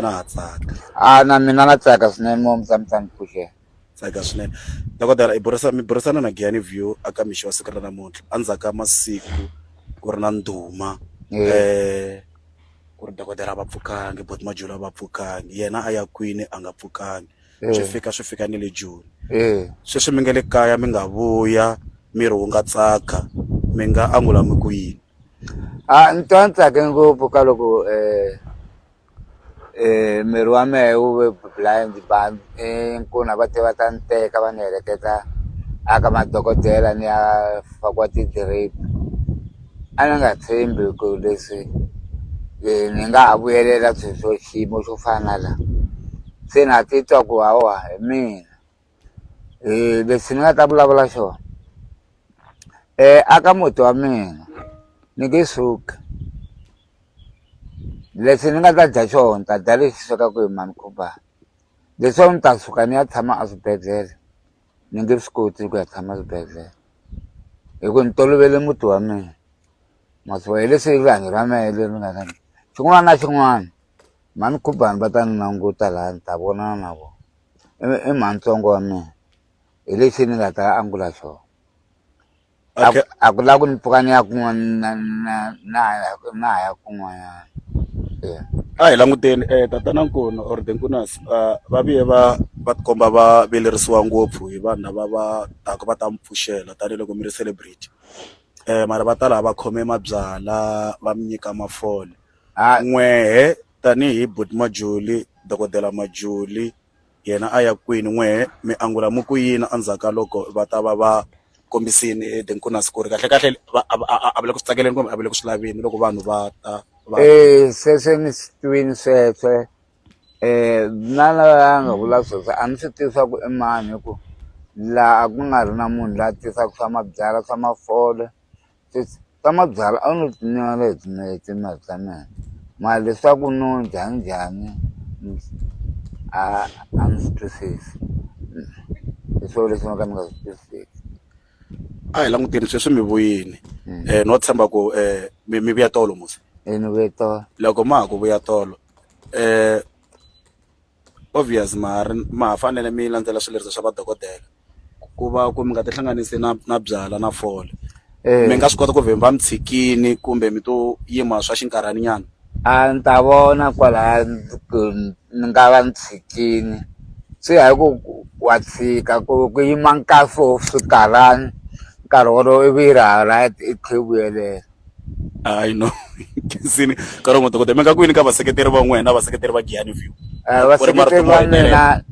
na ha tsaka a na mina na tsaka swinene mo mutsamitsamu phuxe tsaka swinene dokodela i burisa mi burisana na Giyani View a ka mixo wa siku ra namuntlha endzhaku ka masiku ku ri na ndhuma eh ku ri dokodela a va pfukangi but majula a va pfukangi yena a ya kwini a nga pfukangi swi fika swi fika ni le joni sweswi mi nga le kaya mi nga vuya miri wu nga tsaka mi nga angula mi ku yini a ni twa ni tsake ngopfu ka loko um Eh, miri wa mehe wu ve blind ba inkuna va te va ta ni teka va ni heleketa a ka madokodela ni ya fakiwa ti-drip a ni nga tshembi ku leswi ni nga ha vuyelela sweswo xiyimo xo fana na la se na titwa ku hawa hi mina. leswi ni nga ta vulavula xona aka muti wa mina ni nge suki leswi ni nga ta dya xona ni ta dya lexi swekaka hi mhani Khubani leswaku ni ta suka ni ya tshama eswibedhlele ni nge swi koti ku ya tshama swibedhlele hi ku ni tolovele muti wa mina ma swi vona hi leswi rihanyo ra mehe leri nga na xin'wana na xin'wana mhani Khubani va ta ni languta laha ni ta vonana na vona. i mhani ntsongo wa mina hi lexi ni nga ta angula xona a ku a ku lava ku ni pfuka ni ya kun'wana na na na na ha ya kun'wanyana a hi languteni um eh, tatana nkuna or the nkunas ah, va vuye va va tikomba va velerisiwa ngopfu hi vanhu lava va taka va ta mi pfuxela tanihiloko mi ri celebrity um mara va ta laha va khome mabyala va mi nyika mafole n'wehe Tanihi buti Majuli, dokodela Majuli yena a ya kwini? N'wehe mi angula mi ku yini endzhaku ka loko va ta va va kombisini tinkunasi ku ri kahlekahle va a va a va le ku swi tsakeleni kumbe a va le ku swi laveni loko vanhu va ta va. Sweswo ni swi twini sweswo na lava nga vula sweswo a ni swi tivi swa ku i mani hi ku laha a ku nga ri na munhu la tisaka swa mabyalwa swa mafole ta mabyalwa a wu no ti nyuwela hi tinayiti mali ta mina mara leswaku no dya njhani a a ni swi twisisi hi swo leswi no ka ni nga swi twisiseki a hi languteni sweswi mi vuyini no tshemba ku mi mi vuya tolo musi e ni vuye tolo loko ma ha ku vuya tolo . obvious ma ha ri ma ha fanele mi landzela swileriso swa madokodela ku va ku mi nga tihlanganisi na na byalwa na fole mi nga swi kota ku vhimba mi tshikini kumbe mi to yima swa xinkarhana nyana a ni ta vona kwalaya ku ni nga va ni tshikini swi ya hi ku wa tshika ku ku yima nkarhi wo swikarhana nkarhi wolowo ivi yi ri ha right i tlhe i vuyelela. Hayi no Khensini nkarhi wun'we dokodela mi nga kwini ka vaseketeri va n'wina na vaseketeri va Giyani View vaseketeri va mina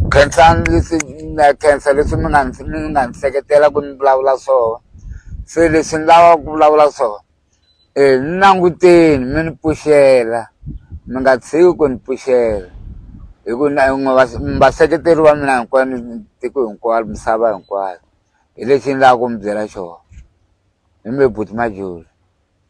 Khensani leswi na khensa leswi mi nga mi nga ni seketela ku ni vulavula swona se leswi ni lava ku vulavula swona um ni languteni mi ni pfuxela mi nga tshiki ku ni pfuxela hi ku na vaseketeri va mina hinkwenu tiko hinkwaro misava hinkwayo hi lexi ni lava ku mi byela xona hi mi buti Majola.